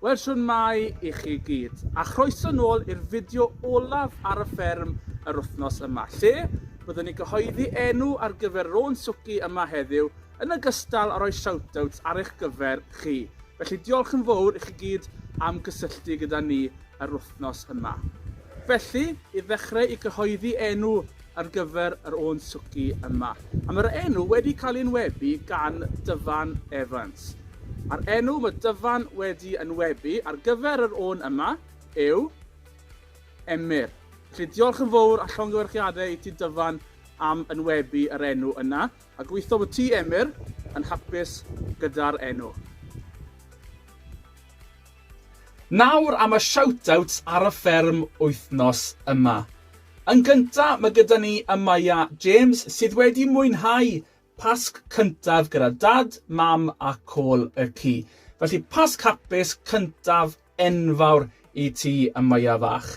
Wel, shwmae i chi gyd, a chroeso nôl i'r fideo olaf ar y fferm yr wythnos yma, lle byddwn ni gyhoeddi enw ar gyfer Rôn Swci yma heddiw, yn ogystal â rhoi shoutouts ar eich gyfer chi. Felly diolch yn fawr i chi gyd am gysylltu gyda ni yr wythnos yma. Felly, i ddechrau i gyhoeddi enw ar gyfer yr Oen Swci yma, a mae'r enw wedi cael ei enwebu gan Dyfan Evans. A'r enw mae Dyfan wedi enwebu ar gyfer yr Oen yma yw Emyr. Felly diolch yn fawr a llongyfarchiadau i ti Dyfan am enwebu yr enw yna, a gobeithio bod ti, Emyr, yn hapus gyda'r enw. Nawr am y shout-outs ar y fferm wythnos yma. Yn gynta ma gyda ni Amaya James sydd wedi mwynhau Pasg cyntaf gyda Dad, Mam a Col y Ci. Felly Pasg hapus cyntaf enfawr i ti Amaya fach.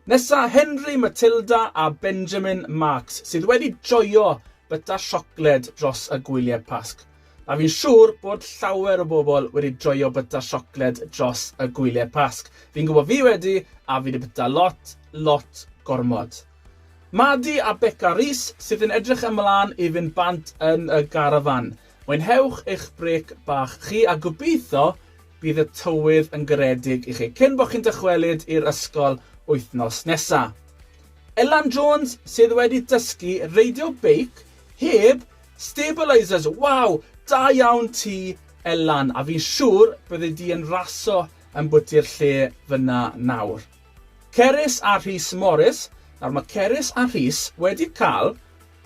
Nesa Henry, Matilda a Benjamin Marks sydd wedi joio byta siocled dros y gwylie Pasg. A fi'n siŵr bod llawer o bobl wedi joio byta siocled dros y gwyliau Pasg. Fi'n gwybod fi wedi, a fi wedi byta lot, lot gormod. Madi a Beca Rees sydd yn edrych ymlaen i fynd bant yn y garafan. Mwynhewch eich brêc bach chi a gobeithio bydd y tywydd yn garedig i chi cyn bod chi'n dychwelyd i'r ysgol wythnos nesa. Elan Jones sydd wedi dysgu reidio beic heb Stabilisers, waw! Da iawn ti Elan, a fi'n siwr byddi di yn raso yn bwyty'r lle fyna nawr. Cerys a Rhys Morris, nawr mae Cerys a Rhys wedi cael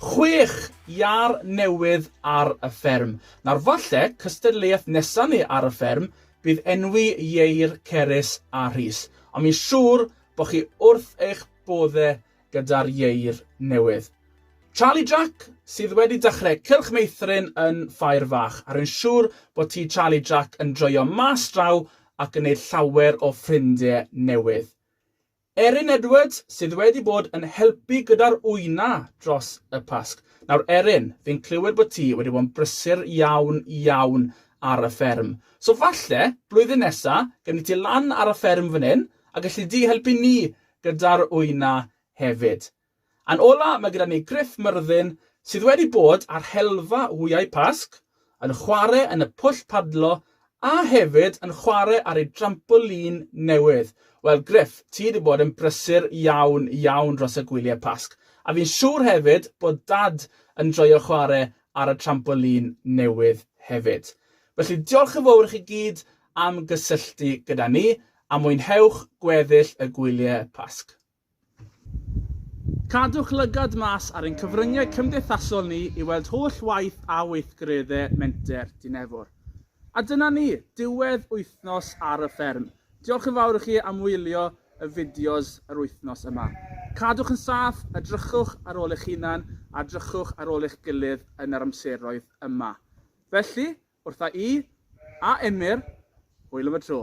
chwech iâr newydd ar y fferm. Nawr falle cystadleuaeth nesa ni ar y fferm bydd enwi ieir Cerys a Rhys, ond fi'n siwr bod chi wrth eich bodde gyda'r ieir newydd. Charlie Jack, sydd wedi dechrau cylch meithrin yn Ffair Fach, a rwy'n siŵr bod ti Charlie Jack yn joio mas draw ac yn neud llawer o ffrindiau newydd. Erin Edwards, sydd wedi bod yn helpu gyda'r wyna dros y Pasg. Nawr Erin, fi'n clywed bod ti wedi bod yn brysur iawn, iawn ar y fferm. So falle, blwyddyn nesa, gynnu ti lan ar y fferm fan hyn, a gallu di helpu ni gyda'r wyna hefyd. Yn ola mae gyda ni Gruff Myrddin sydd wedi bod ar helfa wyau Pasg, yn chware yn y pwll padlo a hefyd yn chware ar ei drampolin newydd. Wel Gruff, ti wedi bod yn brysur iawn iawn dros y gwyliau Pasg a fi'n siŵr hefyd bod Dad yn joio chware ar y trampolin newydd hefyd. Felly diolch yn fowr i chi gyd am gysylltu gyda ni A mwynhewch gweddill y gwyliau Pasg. Cadwch lygad mas ar ein cyfryngau cymdeithasol ni i weld holl waith a weithgareddau Menter Dinefwr. A dyna ni, diwedd wythnos ar y fferm. Diolch yn fawr i chi am wylio y fideos yr wythnos yma. Cadwch yn saff, edrychwch ar ôl eich hunan a edrychwch ar ôl eich gilydd yn yr amseroedd yma. Felly, Wrtha i, a Emyr, hwyl am y tro.